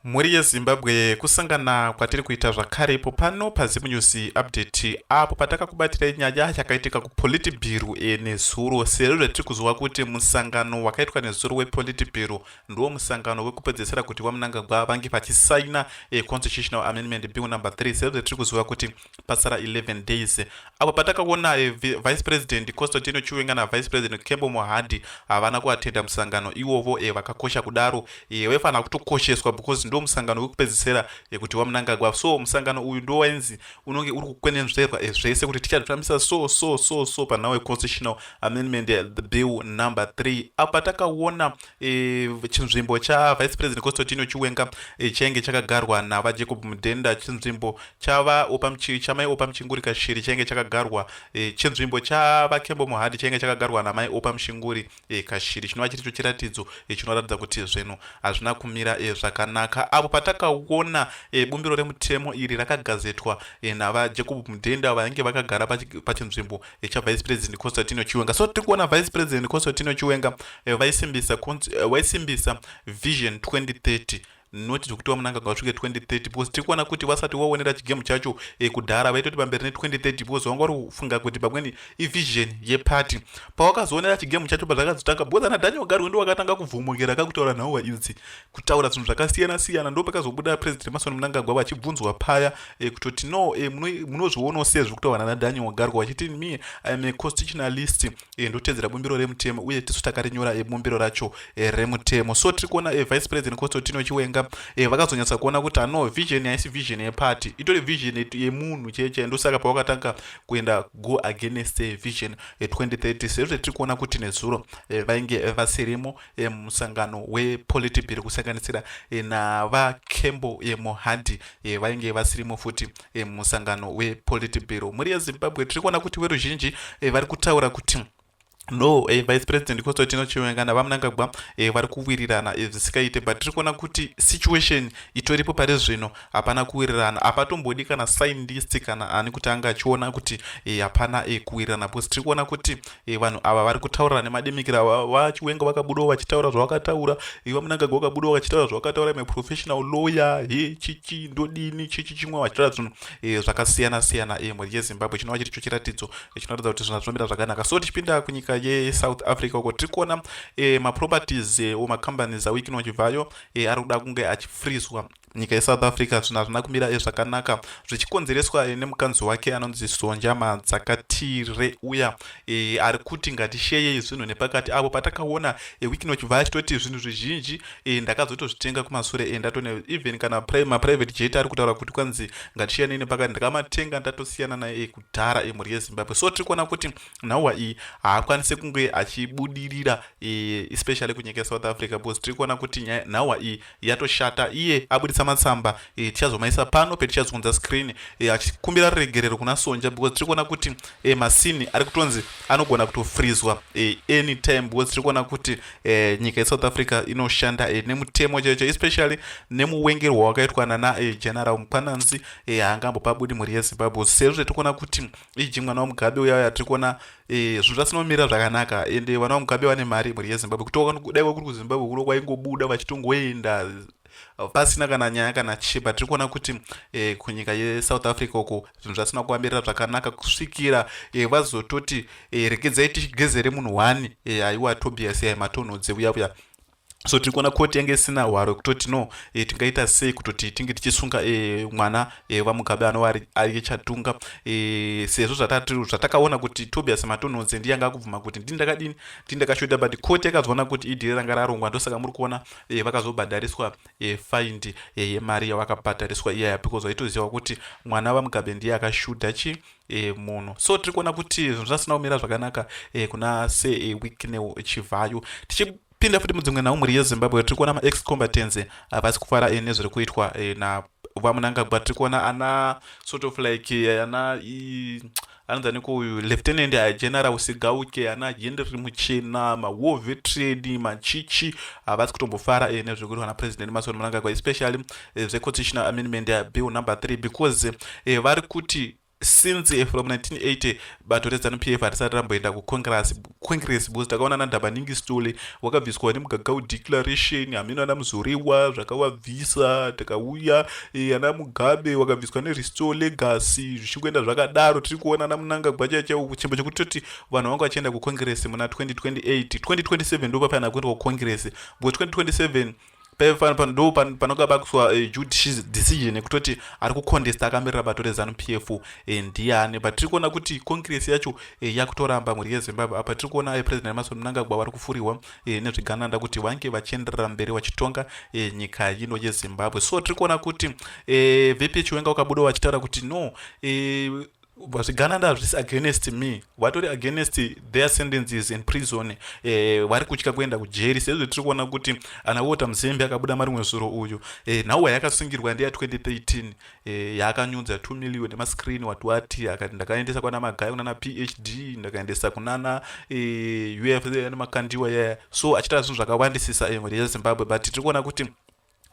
Mhuri yeZimbabwe kusangana kwatiri kuita zvakare ipo pano paZim News Update apo patakakubatirai nyaya yakaitika kuPolitburo e, nezuro sezvo zvatiri kuziva kuti musangano wakaitwa nezuro wePolitburo ndiwo musangano wekupedzesera kuti VaMnangagwa vange vachisaina e, Constitutional Amendment Bill number 3 sezvo zvatiri kuziva kuti pasara 11 days apo patakaona eh, vice president constantino chiwenga navice president kembo mohadi havana kuatenda musangano iwovo eh, vakakosha kudaro eh, waifanira kutokosheswa because ndo musangano wekupedzisira yekuti wamunangagwa so musangano uyu ndo wainzi unonge uri kukwenenzverwa zvese kuti tichazvifambisa so so so so panhau yeconstitutional amendment the bill number 3 apo patakaona E, chinzvimbo chavice president costotino chiwenga e, chainge chakagarwa navajacob mudhenda chinzvimbo chamai opa muchinguri kashiri chainge chakagarwa e, chinzvimbo chavakembo muhadi chainge chakagarwa namai opa muchinguri kashiri chinova chiri cho chiratidzo chinoratidza kuti zvinhu hazvina kumira zvakanaka apo patakaona bumbiro remutemo iri rakagazetwa navajacob mudhenda vainge vakagara pachinzvimbo echa vice president constantino chiwenga so tiri kuona vice president constantino chiwenga eh, vaisimbisa eh, vaisimbisa vision 2030 not zvekuti vamunanga ngavasvike 2030 because tiri kuona kuti vasati vaonera chigemu chacho eh, kudhara vaitoti pamberi ne2030 because vanga vari kufunga kuti pamweni ivision yeparty pavakazoonera chigemu chacho pazvakazotanga because ana daniel gari wendo wakatanga kuvhumukira kakutaura nhauwa idzi kutaura zvinhu zvakasiyana siyana ndopakazobuda president mason munangagwa vachibvunzwa paya e, kutoti no e, munozvionawo sei zviri kutaura nana daniel wagarwa vachiti me iam a constitutionalist e, eh, ndotedzera bumbiro remutemo uye tisu takarinyora e, bumbiro racho e, remutemo so tiri kuona e, vice president constantino chiwenga e, vakazonyatsa kuona kuti ano vision haisi vision yeparty itori vision yemunhu chee chee ndosaka pavakatanga kuenda go against vision 2030 sezvo tiri kuona kuti nezuro e, vainge e, vasirimo e, musangano wepolitibhiri kusanganisira e, navakembo e, mohandi e, vainge vasirimo futi e, musangano wepolitibhiro mhuri yezimbabwe tiri kuona kuti veruzhinji e, vari kutaura kuti no eh, vice president constantino chiwenga navamnangagwa eh, vari kuwirirana eh, zvisikaite but tiri kuona kuti situation itoripo pari zvino hapana kuwirirana hapatombodi kana scientist kana ani kuti anga achiona kuti eh, hapana e, kuwirirana because tiri kuona kuti e, vanhu ava vari kutaurira nemademikira vachiwenga vakabudawo vachitaura zvavakataura iva munangagwa vakabudawo vachitaura zvavakataura ime professional lawyer he chichi ndodini chichi chimwe vachitaura zvinhu e, zvakasiyana siyana e, mhuri yezimbabwe chinova chiri cho chiratidzo e, chinoratidza kuti zvinhu zvinomira zvakanaka so tichipinda kunyika yesouth africa uko tiri kuona e, maproperties e, o macompanies awikino chibvayo e, ari kuda kunge achifrizwa nyika yesouth africa zvinhu hazvina kumira ezvakanaka zvichikonzereswa eh, nemukanzi wake anonzi sonja madzakatire uya e, ari kuti ngatisheyei zvinhu nepakati avo patakaona e, wiki nochibva achitoti zvinhu zvizhinji e, ndakazotozvitenga kumasure e, ndatone even kana maprivate jet ari kutaura kuti kwanzi ngatisiyanei nepakati ndakamatenga ndatosiyana naye e, kudhara emhuri e, yezimbabwe so tiri kuona kuti nhauwa iyi haakwanise kunge achibudirira e, especially kunyika yesouth africa because tiri kuona kuti nhauwa iyi yatoshata iye abuditsa matsamba e, tichazomaisa pano petichazunza screen e, eh, achikumbira ruregerero kuna sonja because tiri kuona kuti e, masini ari kutonzi anogona kutofrizwa e, anytime because tiri kuona kuti e, nyika yesouth africa inoshanda e, nemutemo chaicho especially nemuwengerwa wakaitwa nana e, general mukwananzi e, haangambopabudi mhuri yezimbabwe sezvo tiri kuona kuti iji mwana wamugabe uya uya tiri kuona eh, zvinhu zvasina kumira zvakanaka ende eh, vana vamugabe vane mari mhuri yezimbabwe kutoka dai kwakuri kuzimbabwe kuno kwaingobuda vachitongoenda pasina kana nyaya kana chii but tiri kuona kuti eh, kunyika yesouth africa uko zvinhu zvasina kuvamirira zvakanaka kusvikira eh, vazototi eh, regedzai tichigezere munhu wani eh, aiwa tobias yai matonhodze uya uya so tiri kuona koti yange isina hwaro kutoti no e, tingaita sei kutoti tinge tichisunga e, mwana e, vamugabe anova ari chatunga e, sezvo zvatakaona kuti tobias matonhonze ndiye anga akubvuma kuti ndini ndakadini ndini ndakashoda but koti yakazoona kuti idhiri ranga rarongwa ndosaka muri kuona e, vakazobhadhariswa e, find yemari e, yavakabhadhariswa iyaya because vaitoziva kuti mwana vamugabe ndiye akashuda chii e, munhu so tiri kuona kuti zvinhu zvasina kumira zvakanaka e, kuna se e, wicknel chivhayo tichipinda futi mudzimwe nhau mhuri yezimbabwe tiri kuona maex combatants havasi eh, kufara e, nezviri kuitwa e, na vamunangagwa tiri kuona ana sort of like e, ana i, anonzi aniko uyu lieutenant general usigauke ana henry muchena mawar veteran machichi havasi kutombofara e, nezviri kuitwa napresident mason munangagwa especially eh, zveconstitutional amendment eh, bill number 3 because eh, vari kuti since eh, from 1980 bato rezanup f harisati ramboenda kucongress because takaona nandhabaningi stole wakabviswa nemugagau declaration hameno ana muzoriwa zvakavabvisa takauya eh, ana mugabe wakabviswa nerestore legacy zvichingoenda zvakadaro tiri kuona ana munanga gwacha chaiwo chimbo chekuti toti vanhu vanga vachienda kucongress muna 2028 2027 ndopapaana kuenda kucongress because 2027 ndo panoga bakuswa eh, judicial decision yekutoti ari kucontesta akamirira bato rezanu p f eh, ndiani but tiri kuona kuti congress yacho eh, yakutoramba mhuri yezimbabwe apa tiri kuona president emason mnangagwa vari kufurirwa nezvigananda kuti vange vachienderera mberi vachitonga nyika ino yezimbabwe so tiri kuona kuti vp chiwenga wakabudawo vachitaura kuti no zvigananda hazvisi against me vatori against their sentences in prison eh, vari eh, kutya kuenda kujeri sezve tiri kuona kuti ana wota muzembe akabuda marimwe zuro uyu eh, nhau yayakasungirwa ndeya 2013 eh, yaakanyudza 2 million emascreen wati wati akati ndakaendesa kwana magaya kunana phd ndakaendesa kunana eh, uf nemakandiwa yaya so achitaa zvinhu zvakawandisisa eh, rezimbabwe but tiri kuona kuti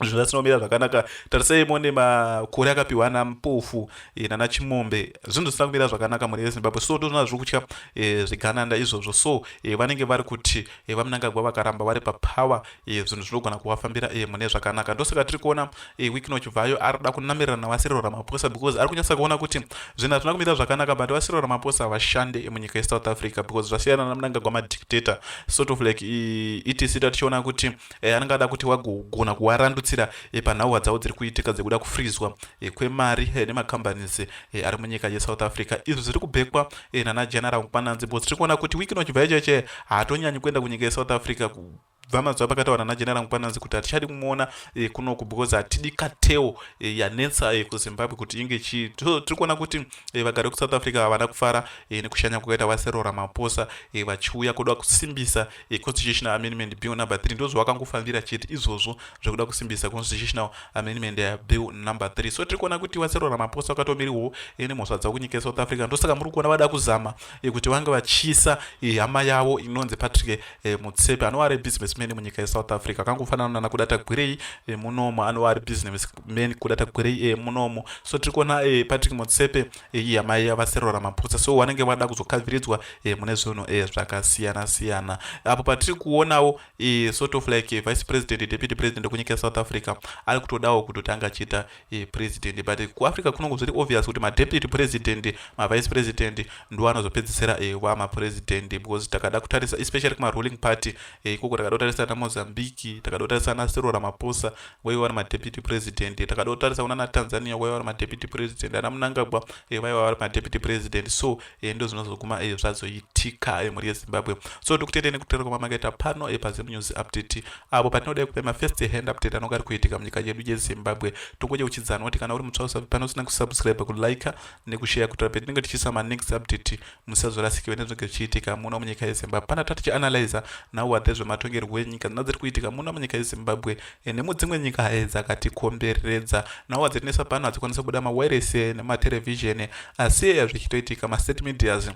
zvinhu zvinomira zvakanaka tarisai mone makore akapiwa ana mpofu e, nana chimombe zvinhu zvisina kumira zvakanaka mune vezimbabwe so ndozvona zviri kutya e, zvigananda izvozvo so e, vanenge vari kuti e, vamunangagwa vakaramba vari papower e, zvinhu zvinogona kuvafambira e, mune zvakanaka ndosaka tiri kuona e, wiknoch vayo ari kuda kunamirira navasiriro ramaposa because ari kunyatsa kuona kuti zvinhu hazvina kumira zvakanaka but vasiriro ramaposa havashande e, munyika yesouth africa because zvasiyana namunangagwa madictator sort of like e, etc tichiona kuti e, anenge ada kuti wagogona kuwarandutsira e, panhauwa dzavo dziri kuitika dzekuda kufrizwa e, kwemari e, nemacompanies e, ari munyika yesouth africa izvi zviri kubhekwa e, nana general mpananzi bcause tiri kuona kuti wiki nochibva icheche haatonyanyi kuenda kunyika yesouth africa ku, bva mazuva pakataura nana general mpananzi kuti hatichadi kumuona e, kunoku because hatidi kateo e, yanetsa e, kuzimbabwe kuti inge chii so tiri kuona kuti e, vagari vekusouth africa havana kufara e, nekushanya kwakaita vaserora maposa e, vachiuya kuda kusimbisa yeconstitutional amendment bill number 3 ndozvawakangofambira chete izvozvo zvekuda kusimbisa constitutional amendment eh, bill number 3 so tiri kuona kuti vasero ramaposa vakatomiriwo eh, nemhosva dzavo kunyika yesouth africa ndosaka muri kuona vada kuzama eh, kuti vange vachisa hama yavo inonzi patrick mutsepe anova ari businessman munyika yesouth africa akangofanana nana kuda tagwirei munomo anova ari businessman kuda tagwirei munomo so tiri kuona patrick mutsepe iyi amai yavaserora maputsa so vanenge vada kuzokavhiridzwa e, mune zvinhu e, zvakasiyana siyana apo patiri kuonawo e, sort of like vice president deputy president kunyika yesouth africa ari kutodawo kutotanga achiita e, president but kuafrica kunongo zviri obvious kuti madeputy president mavice president ndo anozopedzisira e, vamapresident because takada kutarisa especially kumaruling party e, ikoko takada kutarisa ana mozambique takada kutarisa ana serora maposa vaiva vari madeputy president takada kutarisa kuna natanzania vaiva vari madeputy president ana munangagwa eh, vaiva vari madeputy president so eh, ndo zvinozoguma eh, zvazoitika mhuri yezimbabwe so tikutendei nekutera kwama makaita pano pazim news update apo patinodai kupa mafirst hand update anonga ari kuitika munyika yedu yezimbabwe tongoje uchidzana kuti kana uri mutsva usavi pano usina kusubscribe kulike nekushare kutora petinenge tichiisa manext update musazorasikirwe nezvinenge zvichiitika muno munyika yezimbabwe pana tatichi analyzer now are dzezvematongerwo enyika dzina dziri kuitika muno munyika yezimbabwe eh, nemudzimwe nyika haye eh, dzakatikomberedza now adzinesa pano hadzikwanisa kubuda mawiresi eh, nematerevhizheni asi eya zvichitoitika mastate medias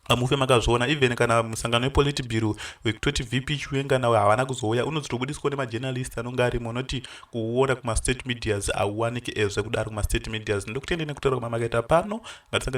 amufe makazviona even kana musangano wepolitibiro wekutoti vp chiwenga nawo havana kuzouya unozotobudiswa nemajournalist anonge arimo unoti kuona kumastate medias auwanike ezve kudaro kumastate medias ndokutendene kutaura kwamamakaita pano ngatisangane